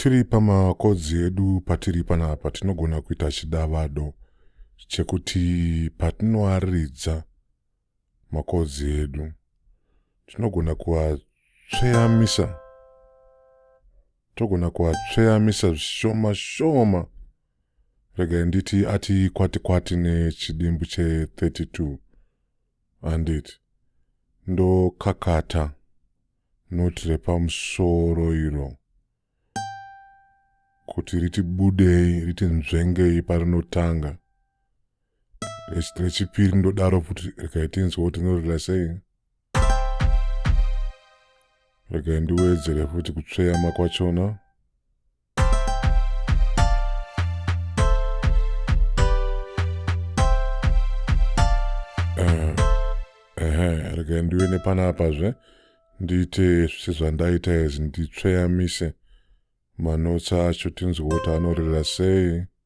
tiri pamakodzi edu patiri panapa tinogona kuita chidavado chekuti patinoaridza makodzi edu tinogona kuatsveyamisa togona kuatsveyamisa zvishoma shoma regai nditi ati kwati kwati nechidimbu che32 handiti ndokakata not repamusoro iro kuti riti budei riti nzvengei parinotanga rechipiri ndodaro futi rekaitinzwa kuti norila sei regai ndiwedzere futi kutsveyama kwachona ndive nepanapa zve ndiite zvese zvandaita izvi nditsveyamise manotsa acho tinzwe kuti anorera sei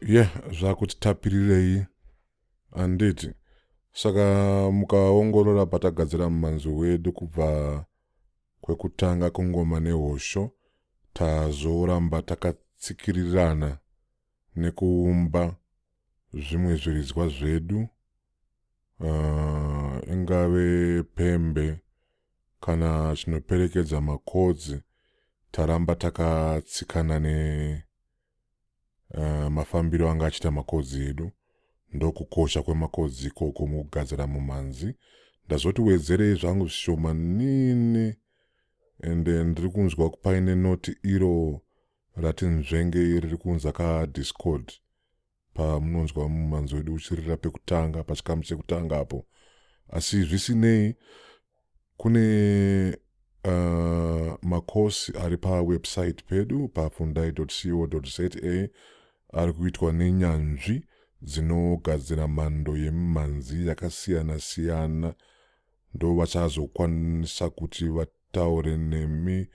ye zvakuti tapirirei handiti saka mukaongorora patagadzira mumanzi wedu kubva kwekutanga kungoma nehosho tazoramba takatsikirirana nekuumba zvimwe zviridzwa zvedu uh, ingave pembe kana chinoperekedza makodzi taramba takatsikana ne uh, mafambiro anga achiita makodzi edu ndokukosha kwemakodzi ikoko mukugadzira mumhanzi ndazoti wedzerei zvangu zvishoma nini ende eh, ndiri kunzwa paine noti iro ratinzvenge iri rikunzi akadiscord pamunonzwa mumanzi wedu uchirira pekutanga pachikamu chekutanga apo asi zvisinei kune uh, makosi ari pawebsite pedu pafundai co za ari kuitwa nenyanzvi dzinogadzira mhando yemimhanzi yakasiyana-siyana ndovachazokwanisa kuti taure nemi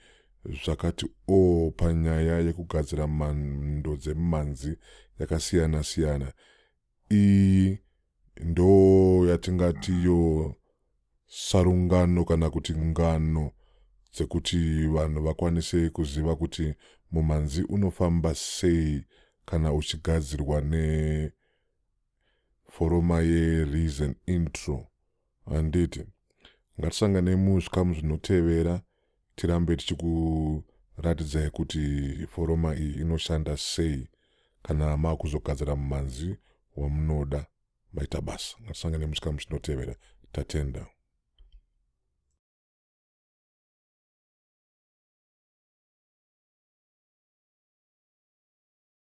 zvakati o oh, panyaya yekugadzira mhando dzemimhanzi yakasiyana siyana iyi ndo yatingati yo sarungano kana kuti ngano dzekuti vanhu vakwanise kuziva kuti mumhanzi unofamba sei kana uchigadzirwa neforoma yereason intro Handiti ngatisanganei muzvikamu zvinotevera tirambe tichikuratidzai kuti foroma iyi inoshanda sei kana makuzogadzira mumhanzi wamunoda maita basa. Ngatisanganei muzvikamu zvinotevera. Tatenda.